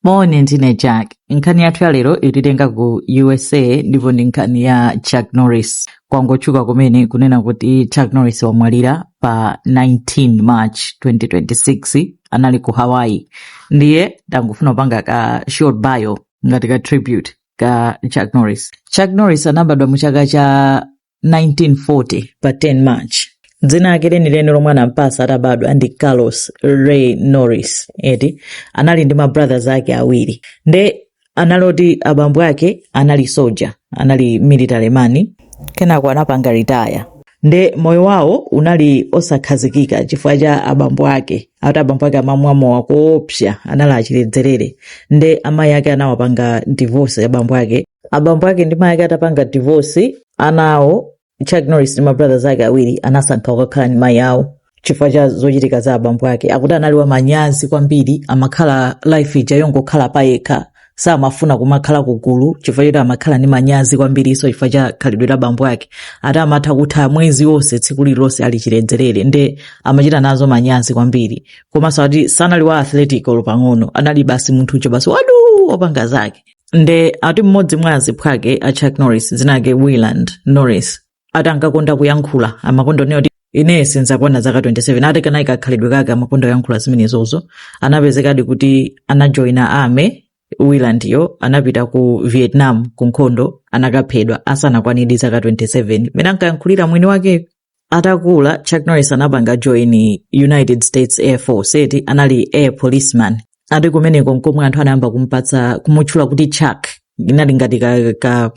moni ndine jack nkhani yathu ya lero ititenga ku usa ndipo ndi nkhani ya chuck norris kwangotchuka kumene kunena kuti chuck norris wamwalira pa 19 march 2026 anali ku hawaii ndiye ndangofuna kupanga ka short bio ngati ka tribute ka chuck norris chuck norris anabadwa mu chaka cha 1940 pa 10 march dzina lake lenileni lomwe anampatsa atabadwa ndi carlos ray norris eti anali ndi mabrothers ake awiri nde anali oti abambo ake anali soja anali military man kenako anapanga ritaya nde moyo wawo unali osakhazikika chifukwa cha abambo ake ati abambo ake amamwa mowa koopsa anali achiledzerere nde amayi ake anawapanga divorce abambo ake abambo ake ndi mayi ake atapanga divorce anawo chuck norris ndi mabrothers ake awiri anasankha kukakhala ndi mayi awo chifukwa cha zochitika za abambo ake akuti anali wamanyazi kwambiri amakhala life ija yongokhala payekha samafuna kumakhala kugulu chifukwa choti amakhala ndi manyazi kwambiriso chifukwa cha khalidwe la abambo ake ati amatha kutha mwezi wonse tsiku lililonse ali chiledzerere nde amachita nazo manyazi kwambiri komanso ati sanali wa athletic olo pang'ono anali basi munthu uja basi wadu wopanga zake nde ati mmodzi mwa aziphwake a chuck norris dzina lake wieland norris ati ankakonda kuyankhula amakonda kunena kuti ine sinzakwana zaka 27 ati kanali kakhalidwe kake amakonda kuyankhula zimenezozo anapezekadi kuti anajoina army wieland-yo anapita ku vietnam ku nkhondo anakaphedwa asanakwanidi zaka 27 mmene ankayankhulira mwini wakeyo atakula chuck norris anapanga join united states air force eti anali air policeman ati kumeneko nkomwe anthu anayamba kumpatsa kumutchula kuti chuck inali ngati ka, ka,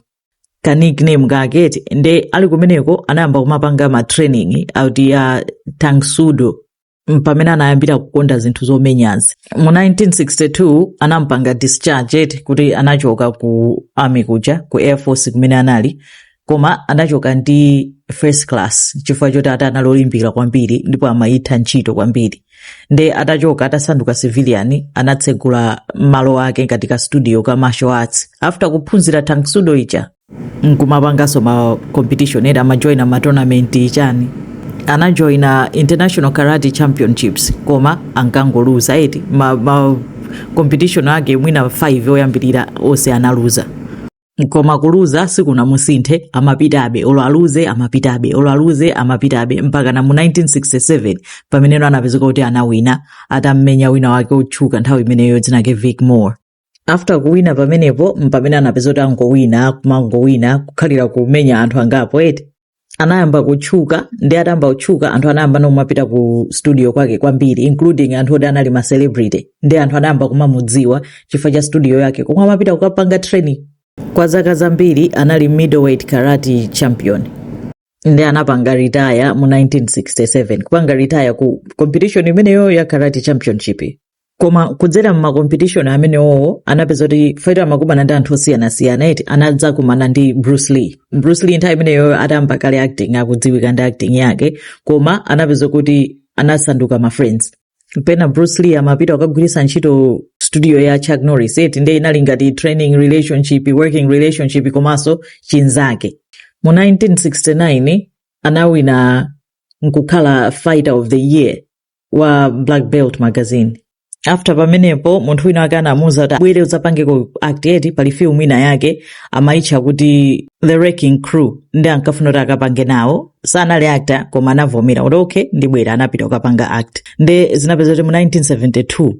ka nickname kake eti nde ali kumeneko anayamba kumapanga ma training awo ati ya tang soo do mpamene anayambira kukonda zinthu zomenyazi mu 1962 anampanga discharge eti kuti anachoka ku army kuja ku air force kumene anali koma anachoka ndi first class chifukwa choti ati anali olimbikira kwambiri ndipo amayitha ntchito kwambiri nde atachoka atasanduka civilian anatsegula malo ake ngati ka studio ka martial arts after kuphunzira tang soo do ija nkumapanganso ma competition eti amajoina ma tournament chani anajoina international karate championships koma ankangoluza eti ma, ma competition ake mwina 5 oyambirira onse analuza koma kuluza sikunamusinthe amapitabe olo aluze amapitabe olo aluze amapitabe mpaka na mu 1967 pameneno anapezeka kuti anawina atammenya wina wake otchuka nthawi imeneyo dzina lake vic moore after kuwina pamenepo mpamene anapeza kuti angowina kumangowina kukhalira kumenya anthu angapo eti anayamba kutchuka nde atayamba kutchuka anthu anayamba no kumapita ku studio kwake kwambiri including anthu oti anali ma celebrity nde anthu anayamba kumamudziwa chifukwa cha studio yake komwe amapita kukapanga training kwa zaka zambiri anali middleweight karate champion nde anapanga retire mu 1967 kupanga retire ku competition imeneyo ya karate championship koma kudzera mmakompetition amenewo anapeza kuti fati amakumana ndi anthu osiyanasiyana eti anadzakumana ndi bruce lee bruce lee nthawi imeneyo atayamba kale acting akudziwika ndi acting yake koma anapeza kuti anasanduka ma friends pena bruce lee amapita kukagwiritsa ntchito studio ya chuck norris eti nde inali ngati training relationship working relationship komanso chinzake mu 1969 anawina nkukhala fighter of the year wa black belt magazine after pamenepo munthu wina wake anamuuza kuti bwera udzapangeko act eti pali film ina yake amayitcha kuti the wrecking crew nde ankafuna kuti akapange nawo sanali actor koma anavomera kuti okay ndibwera anapita kukapanga act nde zinapeza kuti mu 1972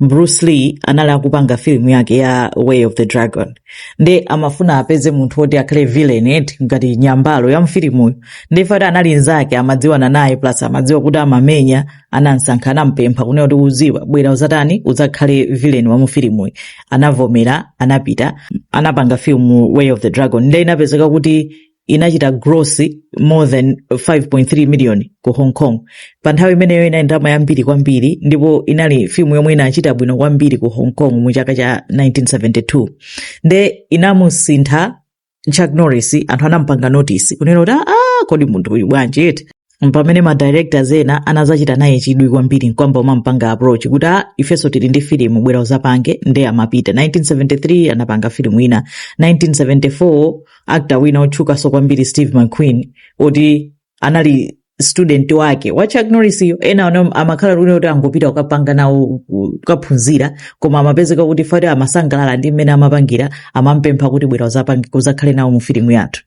bruce lee anali akupanga filimu yake ya way of the dragon nde amafuna apeze munthu woti akhale villain eti ngati nyambalo ya mfilimuyo nde fati anali nzake amadziwana naye plus amadziwa kuti amamenya anamsankha anampempha kunena kuti ukudziwa bwera uzatani udzakhale villain wa mu filimuyi anavomera anapita anapanga filimu way of the dragon nde inapezeka kuti inachita gross more than 5.3 million ku hong kong pa nthawi imeneyo inali ndalama yambiri kwambiri ndipo inali filimu yomwe inachita bwino kwambiri ku hong kong mu chaka cha 1972 nde inamusintha chuck norris anthu anamupanga notice kunena kuti aa kodi munthu uyu bwanji eti mpamene ma directors ena anazachita naye chidwi kwambiri nkuyamba kumamupanga approach kuti a ifenso tili ndi filimu bwera uzapange nde amapita 1973 anapanga filimu ina 1974 actor wina otchukanso kwambiri steve mcqueen oti anali student wake wa chuck norris yo ena amakhala kuti angopita kukapanga nawo ku- kukaphunzira koma amapezeka kuti fati amasangalala ndi mmene amapangira amampempha kuti bwera uzakhale nawo mu filimu yathu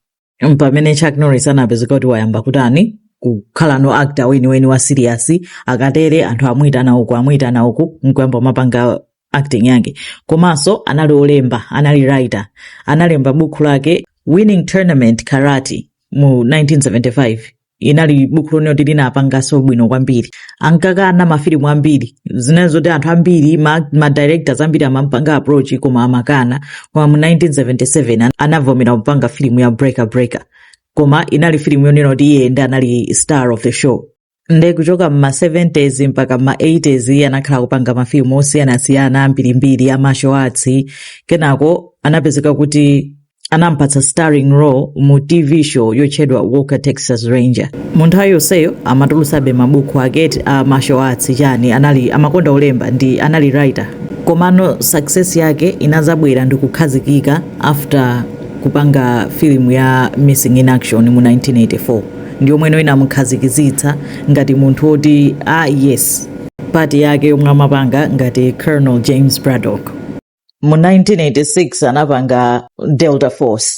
pamene chuck norris anapezeka kuti wayamba kutani kukhala no actor weniweni wa serious akatere anthu amuyitana uku amuyitana uku nkuyamba kumapanga acting yake komanso anali olemba anali writer analemba bukhu lake winning tournament karate mu 1975 inali bukhu lonena kuti linapanganso bwino kwambiri ankakana mafilimu ambiri zinali zoti anthu ambiri ma, ma directors ambiri amampanga approach koma amakana koma mu 1977 an- anavomera kupanga filimu ya breaker breaker koma inali filimu yonena kuti iye nde anali star of the show nde kuchoka mma 70s mpaka mma 80s anakhala kupanga mafilimu osiyanasiyana ambirimbiri a martial arts kenako anapezeka kuti anampatsa starring role mu tv show yotchedwa walker texas ranger mu nthawi yonseyo amatulusabe mabuku ake a martial arts chani anali amakonda zolemba ndi anali writer komano success yake inazabwera ndi kukhazikika after kupanga filimu ya missing in action mu 1984 ndi yomwe ino inamukhazikizitsa ngati munthu woti ah, yes pati yake yomwe amapanga ngati colonel james braddock mu 1986 anapanga delta force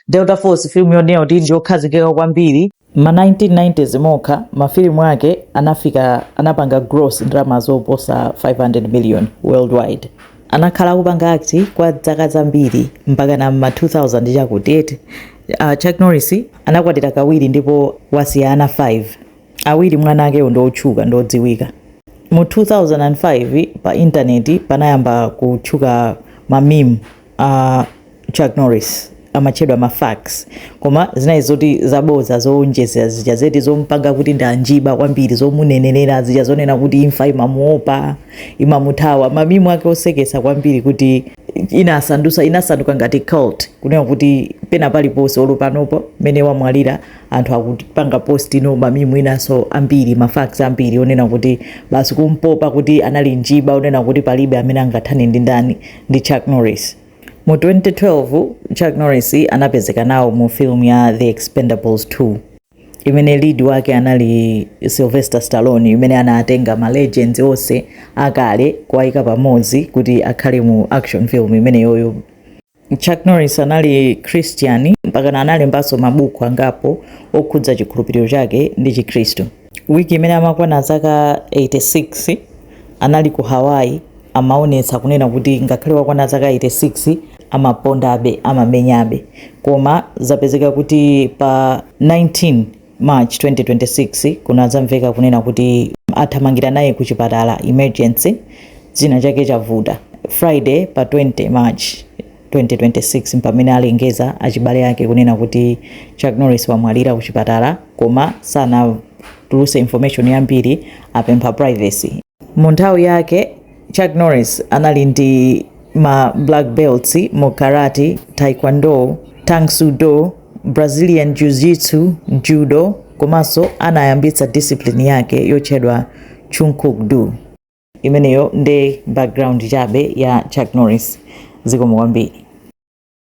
delta force filimu yonena kuti ndi yokhazikika kwambiri mma 1990s mokha mafilimu ake anafika anapanga gross ndalama zoposa 500 million worldwide anakhala akupanga act kwa dzaka zambiri mpakana mma 2000 chakuti uh, chuck norris anakwatira kawiri ndipo wasiya ana 5 awiri mwa ana akewo ndiotchuka ndiodziwika mu 2005 pa intaneti panayamba kutchuka mamimu uh, Chuck Norris amatchedwa ma facts koma zinali zoti zabodza zowonjezera zija eti zompanga kuti ndi njiba kwambiri zomunenerera zija zonena kuti imfa imamuopa imamuthawa mamimu ake osekesa kwambiri kuti inasandusa inasanduka ngati cult kunena kuti pena paliponse olo panopo mmene wamwalira anthu akupanga post mamimu enanso ambiri ma facts ambiri onena kuti basi kumpopa kuti anali njiba onena kuti palibe amene angathane ndi ndani ndi Chuck Norris Mu 2012, Chuck Norris anapezeka nawo mu film ya The Expendables 2 imene lead wake anali Sylvester Stallone imene anatenga ma legends onse akale kuwaika pamodzi kuti akhale mu action film imeneyoyo. Chuck Norris anali Christian mpaka analembanso mabuku angapo okhudza chikhulupiriro chake ndi Chikhristu. Wiki imene amakwana zaka 86 anali ku Hawaii amaonetsa kunena kuti ngakhale wakwana zaka 86 amapondabe amamenyabe koma zapezeka kuti pa 19 March 2026 kunadzamveka kunena kuti athamangira naye ku chipatala emergency china chake chavuta Friday pa 20 March 2026 mpamene alengeza achibale ake kunena kuti Chuck Norris wamwalira kuchipatala koma sanatuluse information yambiri apempha privacy. Mu nthawi yake Chuck Norris anali ndi ma black belts mu karate, taekwondo, tang soo do, Brazilian jiu-jitsu, judo komanso anayambitsa discipline yake yotchedwa Chun Kuk Do. imeneyo ndi background chabe ya Chuck Norris zikomo kwambiri.